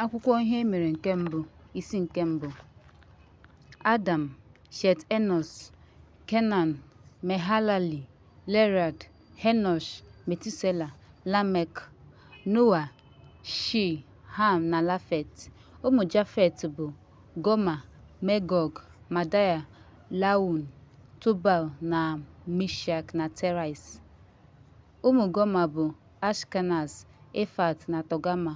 Akwụkwọ Ihe E Mere nke Mbụ, Isi nke Mbụ Adam, Shet Enọs, Kenan, Mehalali, Lerad, Henosh, Metusela, Lamek, Noa, Shi, Ham na Lafet. Ụmụ Jafet bụ Goma, Megọg, Madaya, Laun, Tubal na Mishak na Terais. Ụmụ Goma bụ, Ashkenaz, Efat na Tọgama.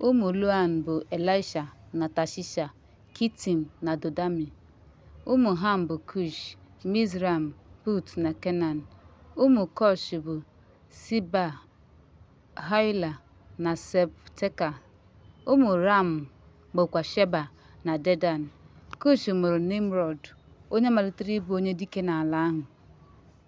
Ụmụ Loan bụ, Elisha na Tashisha, Kitim na Dodami. Ụmụ Ham bụ, Kush, Mizraim, Put na Kenan. Ụmụ Kush bụ, Siba, Haila na Septeka. Ụmụ Ram bụkwa Sheba na Dedan. Kush mụrụ Nimrọd, onye malitere ịbụ onye dike n'ala ahụ.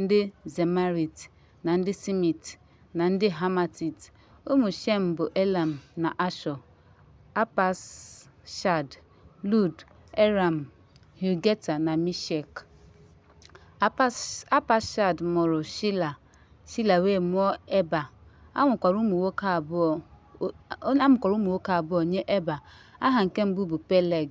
ndị Zemarit, na ndị Simit, na ndị Hamatit. Ụmụ Shem bụ Elam na Ashọ, Apakshad, Lud, Eram, Hul, Geta na Mishek. Apakshad mụrụ Shila, Shila wee mụọ Eba. A mụkwara ụmụ nwoke abụọ nye Eba. Aha nke mbụ bụ Peleg.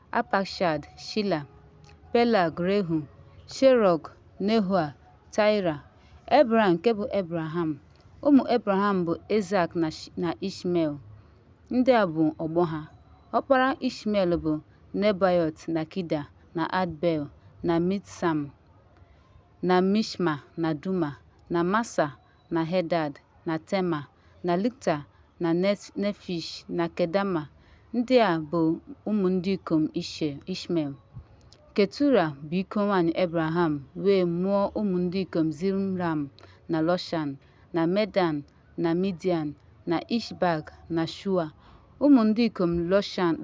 Apakshad, Shila, Pelag, Rehu, Sherọg, Nehoa, Taịra, Ebram nke bụ Ebraham. Ụmụ Ebraham bụ Ezak na Ishmel. Ndị a bụ ọgbọ ha. Ọkpara Ishmel bụ Nebaiot na Kida na Adbel na Mitsam na Mishma na Duma na Masa na Hedad, na Tema, na Likta, na Nefish, na Kedama. Ndị a bụ ụmụ ndị ikom Ishmel. Ketura bụ iko nwaanyị Ebraham wee mụọ ụmụ ndị ikom Zimram, na Lọshan, na Medan, na Midian, na Ishbak, na Shua. Ụmụ ndị ikom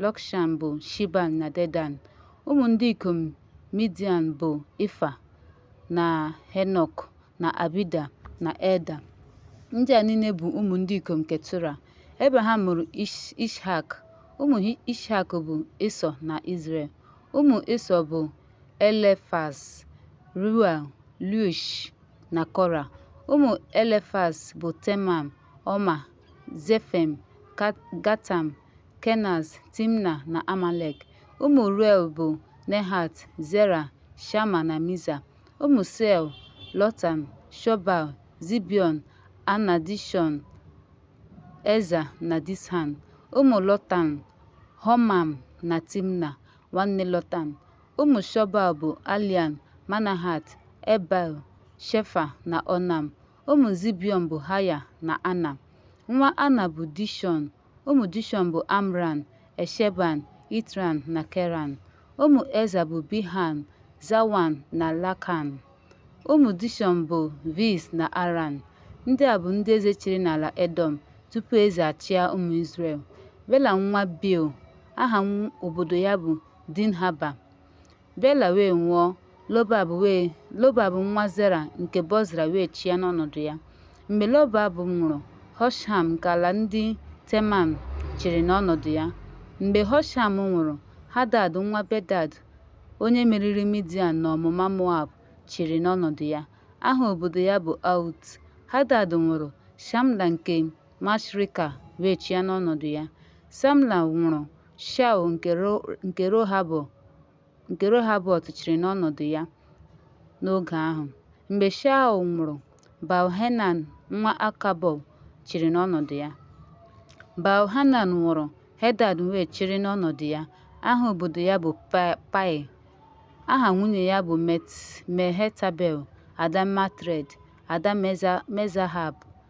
Lọkshan bụ Shiban na Dedan. Ụmụ ndị ikom Midian bụ Ifa na Henok. na Abida, na Eda. Ndị a niile bụ ụmụ ndị ikom Ketura. Ebraham mụrụ Ishak. Ụmụ Ishak bụ Ịsọ na Izrel. Ụmụ Ịsọ bụ Elefaz, Ruel, Lush na Kora. Ụmụ Elefaz bụ Temam, Ọma, Zefem, Gatam, Kenaz, Timna na Amalek. Ụmụ Ruel bụ Nehat, Zera, Shama na Miza. Ụmụ Sel, Lotan, Shobal, Zibiọn, Ana, Dishọn, Eza na Dishan. Ụmụ Lotan, Homam na Timna, nwanne Lotan. Ụmụ Shobal bụ Alian, Manahat, Ebal, Shefa na Onam. Ụmụ Zibiọn bụ Haya na Ana. Nwa Ana bụ Dishọn, Ụmụ Dishọn bụ Amran, Esheban, Itran na Keran. Ụmụ Eza bụ Bilhan, Zawan na Lakan. Ụmụ Dishọn bụ Viz na Aran. Ndị a bụ ndị eze chịrị n'ala Edọm tupu eze achịa ụmụ Izrel. Bela nwa Beor, aha obodo ya bụ Dinhaba. Bela wee nwụọ, Lobab wee Lobab nwa Zera nke Bozra wee chịa n'ọnọdụ ya. Mgbe Lobab nwụrụ, Hosham nke ala ndị Teman chịrị n'ọnọdụ ya. Mgbe Hosham nwụrụ, Hadad nwa Bedad, onye meriri Midian n'ọmụma Moab, chịrị n'ọnọdụ ya. Aha obodo ya bụ Aut. Hadad nwụrụ, Shamla nke Mashrika wee chịa n'ọnọdụ ya. Samla nwụrụ, Shaul nke Rohabọt chịrị n'ọnọdụ ya n'oge ahụ. Mgbe Shaul nwụrụ, Baal-Henan nwa Akabọ chịrị n'ọnọdụ ya. Baal-Hanan nwụrụ, Hedad wee chịrị n'ọnọdụ ya. Aha obodo ya bụ Pai. Aha nwunye ya bụ Mehetabel, ada Matred, ada Mezahab,